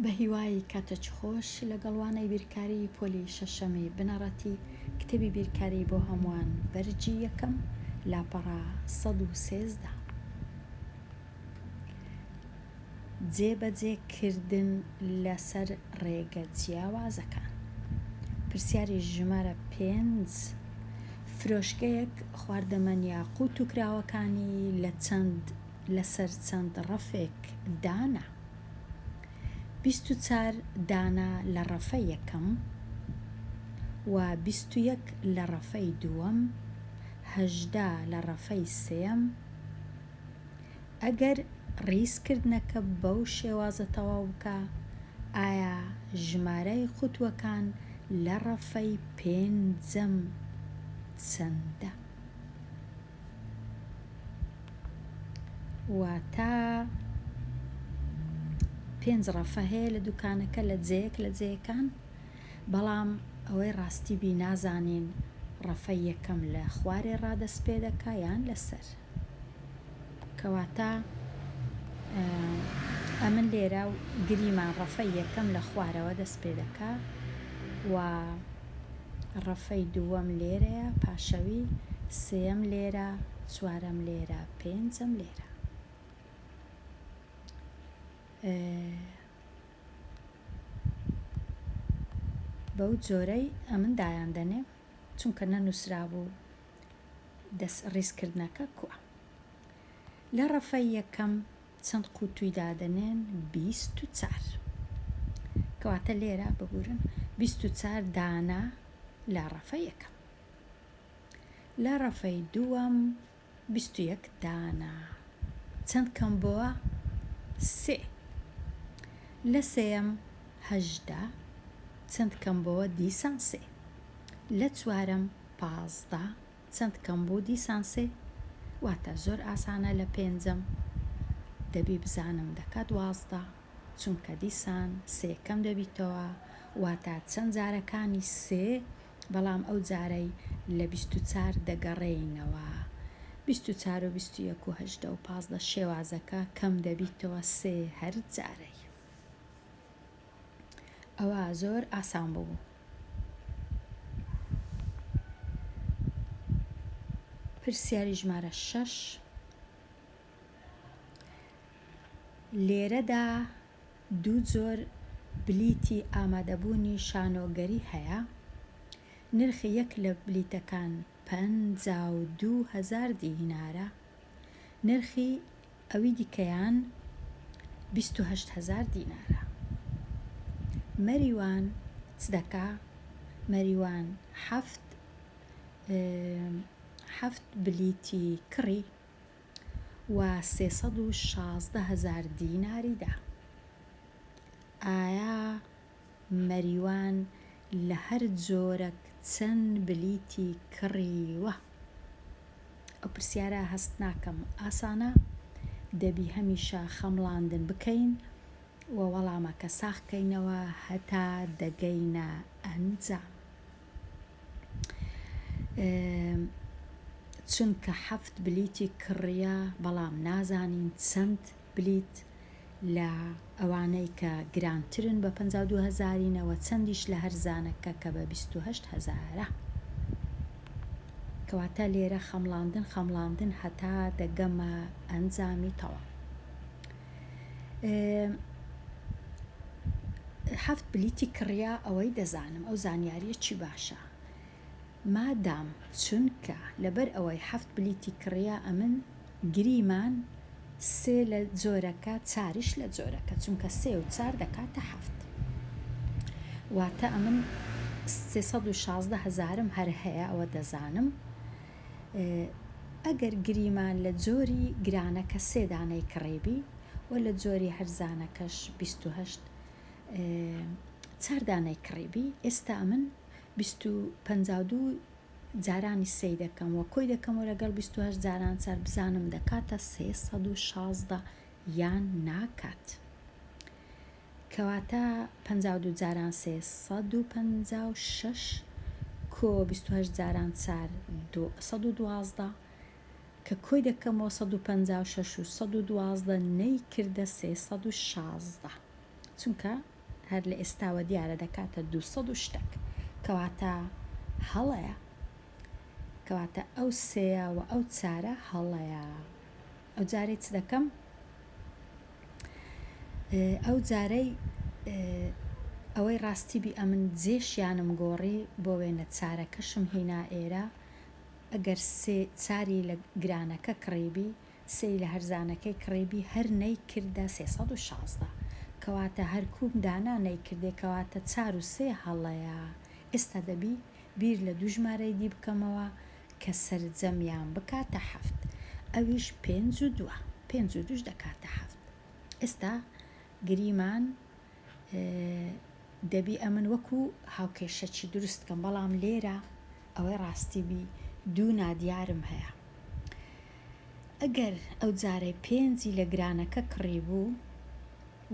بەهیوای کاتەچ خۆش لەگەڵ وانەی بیرکاری پۆلی شەشەمی بنەڕەتی کتێبی بیرکاری بۆ هەمووان بەرگی یەکەم لاپەڕە سەد و سێزدە. جێبەجێکردن لەسەر ڕێگە جیاوازەکان. پرسیاری ژمارە پێنج، فرۆشگەیەک خواردەمەن یاقووت و کراوەکانی لە چەند لەسەر چەند ڕەفێک دانا؟ بیست و چار دانە لە ڕەفە یەکەم و بیست و یەک لە ڕەفەی دووەم، هەژدە لە ڕەفەی سێیەم، ئەگەر ڕیزکردنەکە بەو شێوازە تەواو بکا ئایا ژمارەی قوتوەکان لە ڕەفەی پێنجەم چەندە؟ واتە پێنج ڕەفە هەیە لە دوکانەکە لە جێیەک لە جێیەکان بەڵام ئەوەی ڕاستی بی نازانین ڕەفەی یەکەم لە خوارێ ڕادەست پێ دەکا یان لەسەر؟ کەواتە ئەمن لێرە و گریمان ڕەفەی یەکەم لە خوارەوە دەست پێ دەکا و ڕەفەی دووەم لێرەیە پاشەوی سێەم لێرە چوارەم لێرە پێنجەم لێرە بەو جۆرەی ئەمن دایان دەنێم چونکە نەنووسرا بوو دەست ڕیز کردنەکە کوا. لە ڕەفە یەکەم چەند قوتوی دادەنێن بیست و چار کەواتە لێرە ببورن بیست و چار دانە لە ڕەفە یەکەم لە ڕەفەی دووەم بیست و یەک دانە چەند کەم بۆە سێ لە سێەم هەژدە چەند کەم بۆە دیسان سێ لە چوارەم پازدە چەند کەم بوو دیسان سێ واتە زۆر ئاسانە لە پێنجم دەبی بزانم دەکا دوازدە چونکە دیسان سێ کەم دەبیتەوە واتە چەند جارەکانی سێ بەڵام ئەو جارەی لە بیست و چار دەگەڕێینەوە بیست و چار و بیست و یەک و هەژدە و پازدە شێوازەکە کەم دەبیتەوە سێ هەر جارەی. ئەوا زۆر ئاسان بوو. پرسیاری ژمارە شەش لێرەدا دوو جۆر بلیتی ئامادەبوونی شانۆگەری هەیە، نرخی یەک لە بلیتەکان پەنجا و دوو هەزار دینارە، نرخی ئەوی دیکەیان بیست و هەشت هەزار دینارە. مەریوان چ دەکا؟ مەریوان حەفت حەفت بلیتی کڕی و سێ سەد و شازدە هەزار دیناری دا. ئایا مەریوان لە هەر جۆرەک چەن بلیتی کڕیوە؟ ئەو پرسیارە هەست ناکەم ئاسانە دەبی هەمیشە خەمڵاندن بکەین و وەڵامەکە ساخ کەینەوە هەتا دەگەینە ئەنجام چونکە حەفت بلیتی کڕیە بەڵام نازانین چەند بلیت لە ئەوانەی کە گرانترن بە پەنجا و دوو هەزارینەوە چەندیش لە هەرزانەکە کە بە بیست و هەشت هەزارە. کەواتە لێرە خەمڵاندن خەمڵاندن هەتا دەگەمە ئەنجامی تەواو. حەفت بلیتی کڕیا ئەوەی دەزانم ئەو زانیاریە چی باشە. مادام چونکە لەبەر ئەوەی حەفت بلیتی کڕیا ئەمن گریمان سێ لە جۆرەکە چاریش لە جۆرەکە چونکە سێ و چار دەکاتە حەفت واتە ئەمن سێ سەد و شازدە هەزارم هەر هەیە ئەوە دەزانم ئەگەر گریمان لە جۆری گرانەکە سێ دانەی کڕیبی و لە جۆری هەرزانەکەش بیست و هەشت چار دانەی کڕیبی ئێستا ئەمن بیست و پەنجا و دوو جارانی سەی دەکەم وە کۆی دەکەمەوە لەگەڵ بیست و هەشت جاران سەر بزانم دەکاتە سێ سەد و شازدە یان ناکات کەواتە پەنجا و دوو جاران سێ سەد و پەنجا و شەش کۆ بیست و هەشت جاران چار سەد و دوازدە کە کۆی دەکەمەوە سەد و پەنجا و شەش و سەد و دوازدە نەیکردە سێ سەد و شازدە چونکە هەر لە ئێستاوە دیارە دەکاتە دوو سەد و شتەک کەواتە هەڵەیە کەواتە ئەو سێە و ئەو چارە هەڵەیە ئەو جارەی چ دەکەم ئەو جارەی ئەوەی ڕاستی بی ئەمن جێشیانم گۆڕی بۆ وێنە چارەکەشم هینا ئێرە ئەگەر سێ چاری لە گرانەکە کڕیبی سێی لە هەرزانەکەی کڕیبی هەر نەی کردە سێ سەد و شازدە کەواتە هەر کووم دانا نەی کردێ کەواتە چار و سێ هەڵەیە ئێستا دەبی بیر لە دوو ژمارەی دی بکەمەوە کە سەرجەمیان بکاتە حەفت ئەویش پێنج و دووە پێنج و دووش دەکاتە حەفت ئێستا گریمان دەبی ئەمن وەکو هاوکێشەچی دروست بکەم بەڵام لێرە ئەوەی ڕاستی بی دوو نادیارم هەیە ئەگەر ئەو جارەی پێنجی لە گرانەکە کڕی بوو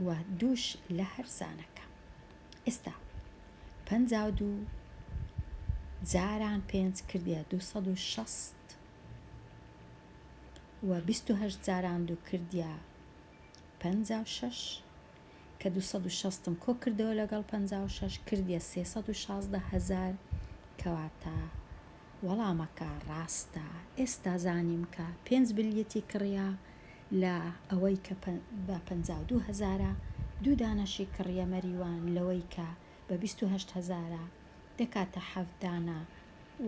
و دووش لە هەرزانەکە ئێستا پەنجا و دوو جاران پێنج کردیە دوو سەد و شەست و بیست و هەشت جاران دوو کردیە پەنجا و شەش کە دوو سەد و شەست م کۆ کردەوە لەگەڵ پەنجا و شەش کردیە سێ سەد و شازدە هەزار کەواتە وەڵامەکە ڕاستە ئێستا زانیم کە پێنج بلیتی کڕیە لە ئەوەی کە بە پەنجا و دوو هەزارە دوو دانەشی کڕیە مەریوان لەوەی کە بە بیست و هەشت هەزارە دەکاتە حەفت دانە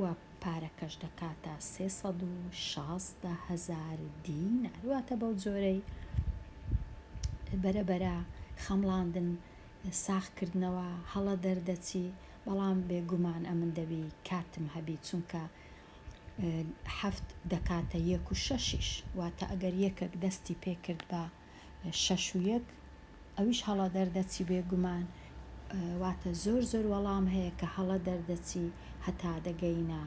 و پارەکەش دەکاتە سێ سەد و شازدە هەزار دینار واتە بەو جۆرەی بەرەبەرە خەمڵاندن ساخکردنەوە هەڵە دەردەچی بەڵام بێگومان ئەمن دەبی کاتم هەبی چونکە حەفت دەکاتە یەک و شەشیش واتە ئەگەر یەکەک دەستی پێکرد بە شەش و یەک ئەویش هەڵە دەردەچی بێ گومان واتە زۆر زۆر وەڵام هەیە کە هەڵە دەردەچی هەتا دەگەینە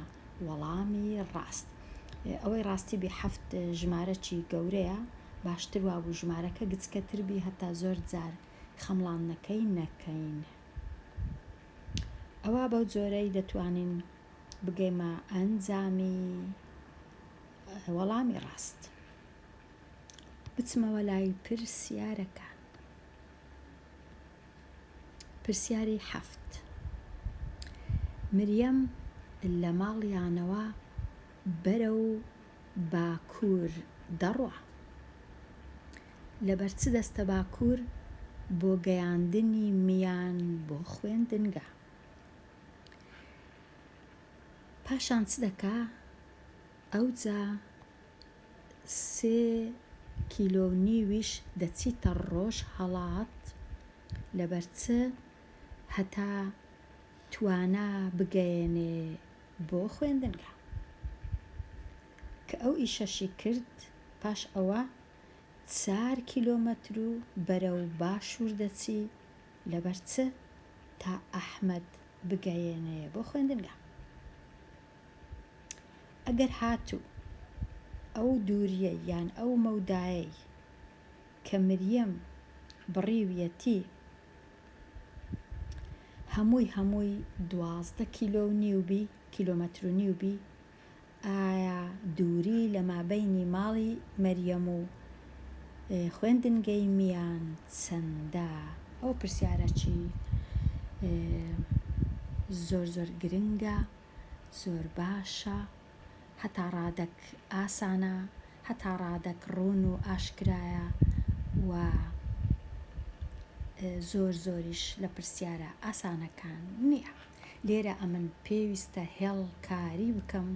وەڵامی ڕاست ئەوەی ڕاستی بێ حەفت ژمارەکی گەورەیە باشتر وابوو ژمارەکە گچکەتر بی هەتا زۆر جار خەمڵان نەکەی نەکەین ئەوە بەو جۆرەی دەتوانین بگەیمە ئەنجامی وەڵامی ڕاست بچمەوە لای پرسیارەکان. پرسیاری حەفت، مریەم لە ماڵیانەوە بەرەو باکوور دەڕوا، لەبەر چ دەستە باکوور بۆ گەیاندنی میان بۆ خوێندنگا؟ پاشان چ دەکا؟ ئەوجا. سێ کیلۆ و نیویش دەچیتە ڕۆژ هەڵات لەبەر چ هەتا توانا بگەیەنێ بۆ خوێندنگا کە ئەو ئیشەشی کرد پاش ئەوە چار کیلۆمەترو بەرەو باشور دەچی لەبەر چ تا ئەحمەد بگەیەنێ بۆ خوێندنگا. ئەگەر هاتوو ئەو دووریەی یان ئەو مەودایەی کە مریەم بڕیویەتی هەمووی هەمووی دوازدە کیلۆ و نیو بی کیلۆمەتر و نیو بی ئایا دووری لە مابەینی ماڵی مریەم و خوێندنگەی میان چەندە؟ ئەو پرسیارەی زۆر زۆر گرنگە زۆر باشە هەتا ڕادەک ئاسانە هەتا ڕادەک ڕوون و ئاشکرایە و زۆر زۆریش لە پرسیارە ئاسانەکان نییە. لێرە ئەمن پێویستە هێڵ کاری بکەم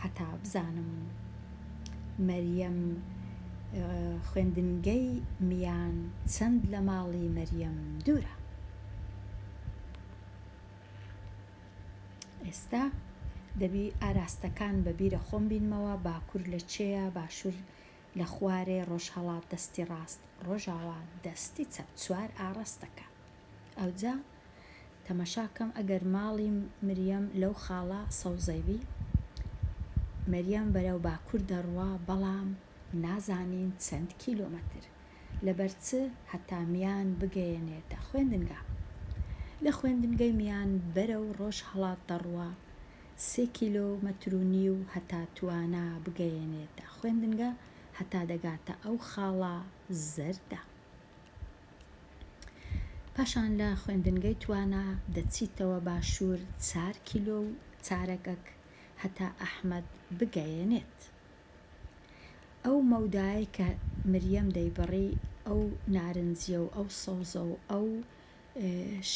هەتا بزانم مەریەم خوێندنگەی میان چەند لە ماڵی مەریەم دوورە ئێستا دەبی ئاراستەکان بە بیرە خۆم بینمەوە باکوور لە چێە باشوور لە خوارێ ڕۆژهەڵات دەستی ڕاست ڕۆژاوا دەستی چەپ چوار ئاڕەستەکە ئەوجا تەمەشا کەم ئەگەر ماڵی مریەم لەو خاڵە سەوزەیبی مریەم بەرەو باکور دەڕوا بەڵام نازانین چەند کیلۆمەتر لەبەر چ هەتا میان بگەیەنێتە خوێندنگا لە خوێندنگەی میان بەرەو ڕۆژهەڵات دەڕوا سێ کیلۆ و مەتر و نیو هەتا توانا بگەیەنێتە خوێندنگە هەتا دەگاتە ئەو خاڵە زەردە پاشان لە خوێندنگەی توانا دەچیتەوە باشوور چار کیلۆ و چارەگەک هەتا ئەحمەد بگەیەنێت ئەو مەودایە کە مریەم دەیبڕی ئەو نارنجیە و ئەو سەوزە و ئەو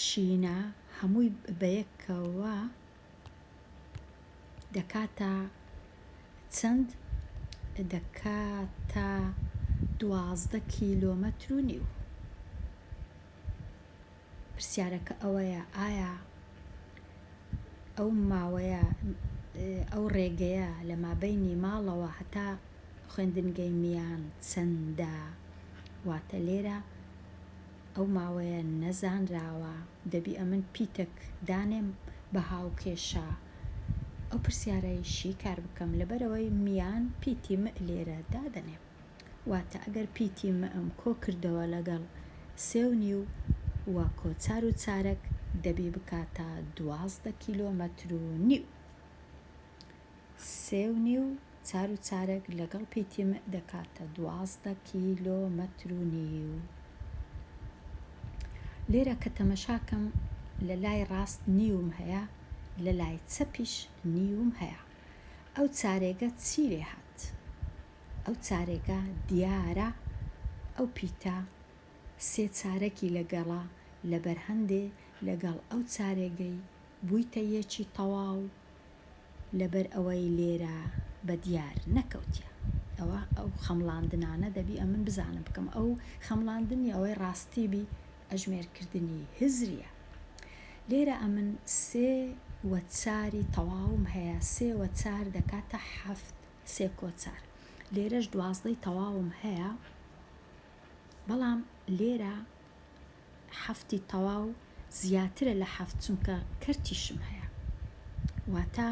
شینە هەمووی بەیەکەوە دەکاتە چەند؟ دەکاتە دوازدە کیلۆمەتر و نیو. پرسیارەکە ئەوەیە ئایا ئەو ماوەیە ئەو ڕێگەیە لە مابینی ماڵەوە هەتا خوێندنگەی میان چەندە؟ واتە لێرە ئەو ماوەیە نەزانراوە دەبی ئەمن پیتەک دانێم بە هاوکێشە ئەو پرسیارەی شیکار بکەم لەبەرەوەی میان پیتی مئ لێرە دادەنێم واتە ئەگەر پیتی مئم کۆ کردەوە لەگەڵ سێ و نیو و کۆچار و چارەک دەبی بکاتە دوازدە کیلۆمەتر و نیو سێ و نیو چار و چارەک لەگەڵ پیتی مئ دەکاتە دوازدە کیلۆ مەتر و نیو. لێرە کە تەمەشاکەم لە لای ڕاست نیوم هەیە لە لای چەپیش نیوم هەیە ئەو چارێگە چی لێ هات؟ ئەو چارێگە دیارە ئەو پیتە سێ چارەکی لەگەڵە لەبەر هەندێ لەگەڵ ئەو چارێگەی بوویتە یەکی تەواو لەبەر ئەوەی لێرە بە دیار نەکەوتیە ئەوە ئەو خەمڵاندنانە دەبی ئەمن بزانم بکەم ئەو خەمڵاندنی ئەوەی ڕاستی بی ئەژمێر کردنی هزریە لێرە ئەمن سێ وە چاری تەواوم هەیە سێ وە چار دەکاتە حەفت سێ کۆ چار لێرەش دوازدەی تەواوم هەیە بەڵام لێرە حەفتی تەواو زیاترە لە حەفت چونکە کەرتیشم هەیە واتە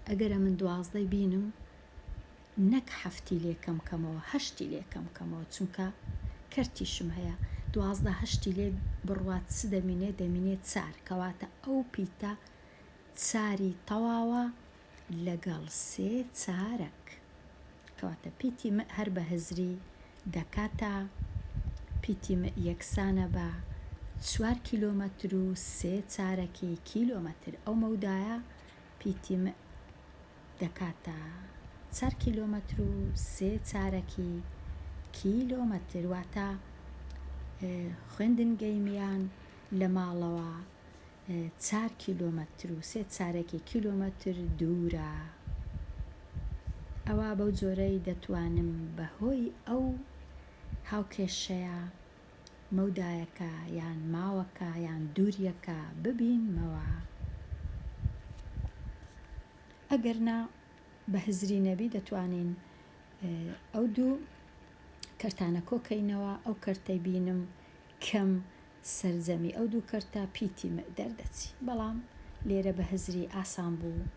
ئەگەرە من دوازدەی بینم نەک حەفتی لێکەم کەمەوە هەشتی لێکەم کەمەوە چونکە کەرتیشم هەیە دوازدە هەشتی لێ بڕوات چ دەمینێ دەمینێ چار کەواتە ئەو پیتە چاری تەواوە لەگەڵ سێ چارەک. کەواتە پیتی مئ هەر بە هزری دەکاتە پیتی مئ یەکسانە بە چوار کیلۆمەتر و سێ چارەکی کیلۆمەتر. ئەو مەودایە پیتی مئ دەکاتە چار کیلۆمەتر و سێ چارەکی کیلۆمەتر. واتە خوێندنگەی میان لە ماڵەوە چار کیلۆمەتر و سێ چارەکی کیلۆمەتر دوورە ئەوا بەو جۆرەی دەتوانم بەهۆی ئەو هاوکێشەیە مەودایەکە یان ماوەکە یان دووریەکە ببینمەوە ئەگەر نا بە هزری نەبی دەتوانین ئەو دوو کەرتانە کۆکەینەوە ئەو کەرتەی بینم کەم سەرجەمی ئەو دوو کەرتە پیتی مئ دەردەچی بەڵام لێرە بە هزری ئاسان بوو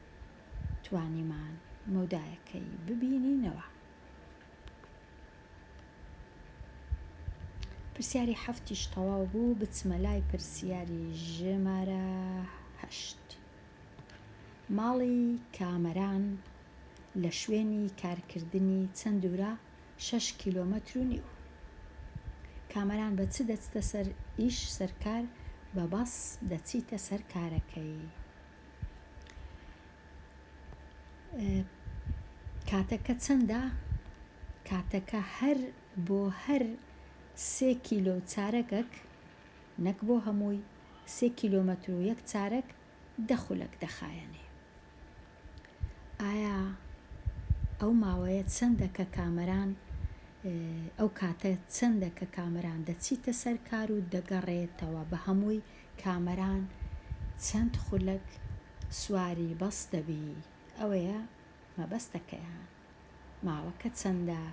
توانیمان مەودایەکەی ببینینەوە. پرسیاری حەفتیش تەواو بوو بچمە لای پرسیاری ژمارە هەشت. ماڵی کامەران لە شوێنی کارکردنی چەند دوورە؟ شەش کیلۆمەتر و نیو. کامەران بە چ دەچتە سەر ئیش سەر کار؟ بە بەس دەچیتە سەر کارەکەی. کاتەکە چەندە؟ کاتەکە هەر بۆ هەر سێ کیلۆ و چارەکەک، نەک بۆ هەمووی، سێ کیلۆمەتر و یەک چارەک دە خولەک دەخایەنێ. ئایا ئەو ماوەیە چەندە کە کامەران ئەو کاتە چەندە کە کامەران دەچیتە سەر کار و دەگەڕێتەوە بە هەمووی کامەران چەند خولەک سواری بەس دەبی ئەوەیە مەبەستەکەیان ماوەکە چەندە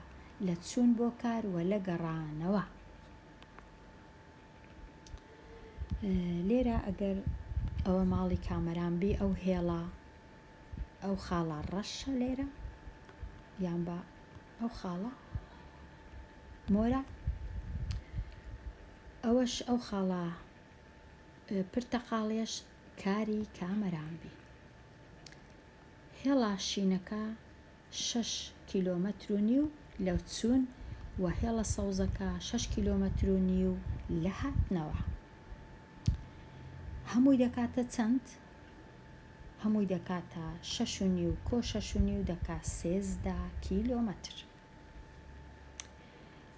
لە چوون بۆ کار وە لە گەڕانەوە. لێرە ئەگەر ئەوە ماڵی کامەران بی ئەو هێڵە ئەو خاڵە ڕەشە لێرە یان بە ئەو خاڵە مۆرە ئەوەش ئەو خاڵە پرتەقاڵێش کاری کامەران بی هێڵا شینەکە شەش کیلۆمەتر و نیو لە چوون و هێڵە سەوزەکە شەش کیلۆمەتر و نیو لە هاتنەوە. هەمووی دەکاتە چەند؟ هەمووی دەکاتە شەش و نیو کۆ شەش و نیو دەکا سێزدە کیلۆمەتر.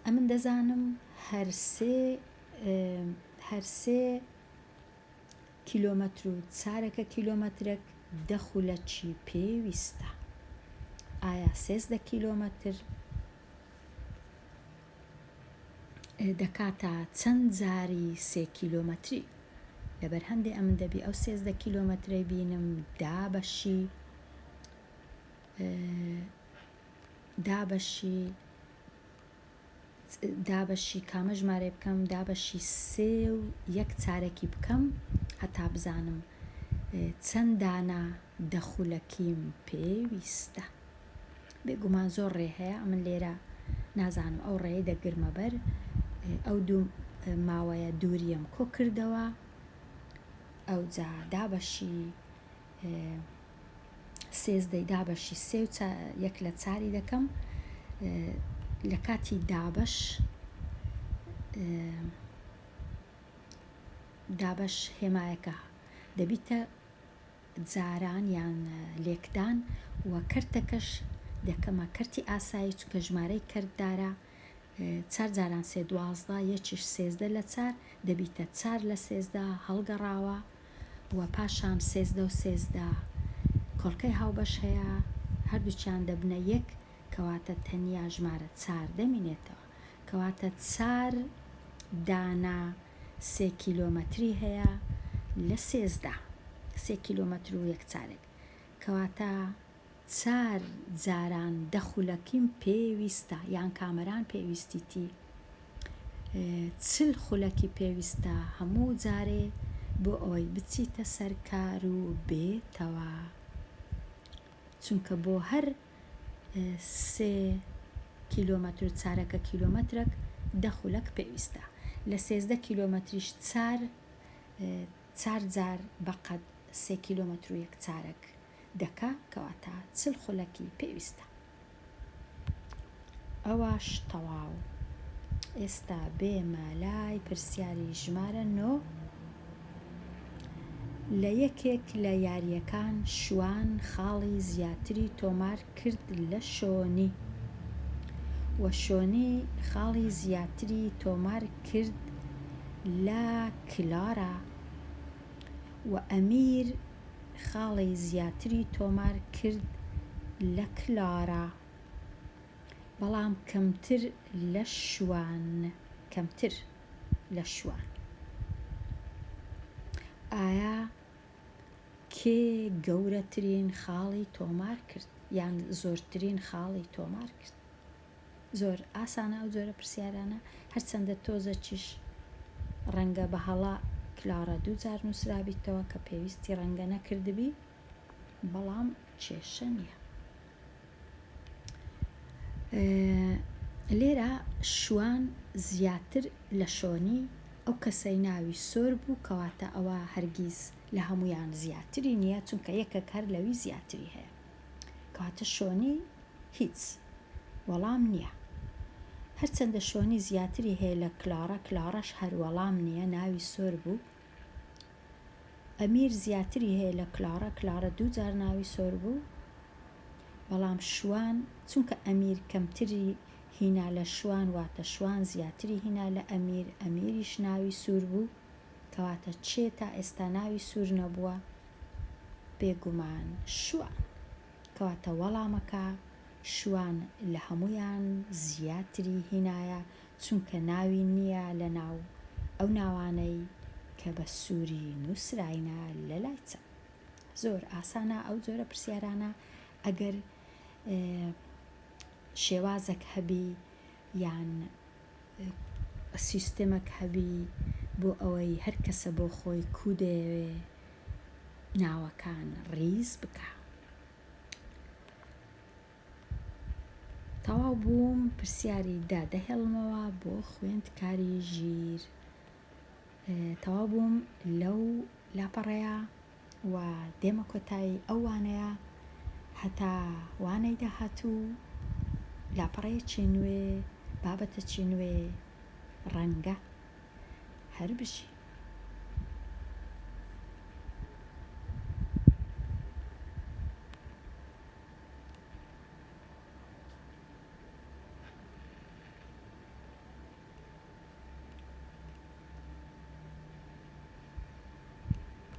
ئەمن دەزانم هەرسێ هەرسێ کیلۆمەتر و چارەکە کیلۆمەترێک دە خولە چی پێ ویستە ئایا سێزدە کیلۆمەتر دەکاتە چەند جاری سێ کیلۆمەتری لەبەر هەندێ ئەمن دەبی ئەو سێزدە کیلۆمەترەی بینم دا بەشی دابەشی دابەشی کامە ژمارەی بکەم دابەشی سێ و یەک چارەکی بکەم هەتا بزانم چەند دانە دەخولەکیم پێویستە بێگومان زۆر ڕێ هەیە ئەمن لێرە نازانم ئەو ڕێی دەگرمە بەر ئەو دوو ماوەیە دووریەم کۆ کردەوە ئەو جا دابەشی سێزدەی دابەشی سێ و یەک لە چاری دەکەم لە کاتی دابەش دابەش هێمایەکە دەبیتە جاران یان لێکدان و کەرتەکەش دەکەمە کەرتی ئاسایی چکە ژمارەی کەردارە چار جاران سێ دوازدە، یەکیش سێزدە لە چار، دەبیتە چار لە سێزدە، هەڵگەڕاوە و پاشان سێزدە و سێزدە کۆڵکەی هاوبەش هەیە، هەردووکیان دەبنە یەک، کەواتە تەنیا ژمارە چار دەمینێتەوە. کەواتە چار دانە سێ کیلۆمەتری هەیە لە سێزدە، سێ کیلۆمەتر و یەک چارێک، کەواتە چار جاران دەخولەکیم پێ ویستە یان کامەران پێ ویستیتی چل خولەکی پێ ویستە هەموو جارێ بۆ ئەوەی بچیتە سەر کار و بێتەوە چونکە بۆ هەر سێ کیلۆمەتر و چارەکە کیلۆمەترەک دە خولەک پێویستە لە سێزدە کیلۆمەتریش چار چار جار بەقەد سێ کیلۆمەتر و یەک چارەک دەکا کەواتە چل خولەکی پێویستە ئەوەش تەواو ئێستا بێمە لای پرسیاری ژمارە نۆ لە یەکێک لە یاریەکان شوان خاڵی زیاتری تۆمار کرد لە شۆنی وە شۆنی خاڵی زیاتری تۆمار کرد لە کلارا وە ئەمیر خاڵی زیاتری تۆمار کرد لە کلارا، بەڵام کەمتر لە شوان. کەمتر لە شوان. ئایا کێ گەورەترین خاڵی تۆمار کرد یان زۆرترین خاڵی تۆمار کرد؟ زۆر ئاسانە ئەو جۆرە پرسیارانە هەرچەندە تۆزەکیش ڕەنگە بە هەڵە کلارا دوو جار نووسرابیتەوە کە پێویستی ڕەنگە نەکردبی بەڵام کێشە نییە لێرە شوان زیاتر لە شۆنی ئەو کەسەی ناوی سۆر بوو کەواتە ئەوە هەرگیز لە هەمویان زیاتری نییە چونکە یەکەک هەر لەوی زیاتری هەیە کەواتە شۆنی هیچ وەڵام نیە هەرچەندە شۆنی زیاتری هەیە لە کلاڕە کلاڕەش هەر وەڵام نیە ناوی سۆر بوو ئەمیر زیاتری هەیە لە کلاڕە کلاڕە دوو جار ناوی سۆر بوو بەڵام شوان چونکە ئەمیر کەمتری هینا لە شوان واتە شوان زیاتری هینا لە ئەمیر ئەمیریش ناوی سوور بوو کەواتە چێ تا ئێستا ناوی سوور نەبووە بێگومان شوان. کەواتە وەڵامەکە شوان لە هەموویان زیاتری هینایە چونکە ناوی نیە لەناو ئەو ناوانەی کە بە سوری نوسراینە لەلای چەپ. زۆر ئاسانە ئەو جۆرە پرسیارانە ئەگەر شێوازەک هەبی یان سیستمەک هەبی بۆ ئەوەی هەر کەسە بۆ خۆی کو دەیەوێ ناوەکان ڕیز بکا تەواو بووم پرسیاری دە دەهێڵمەوە بۆ خوێندکاری ژیر تەواو بووم لەو لاپەڕەیە و دێمە کۆتایی ئەو وانەیە هەتا وانەی داهاتوو لاپەڕەیەکی نوێ بابەتەکی نوێ ڕەنگە هەر بژی.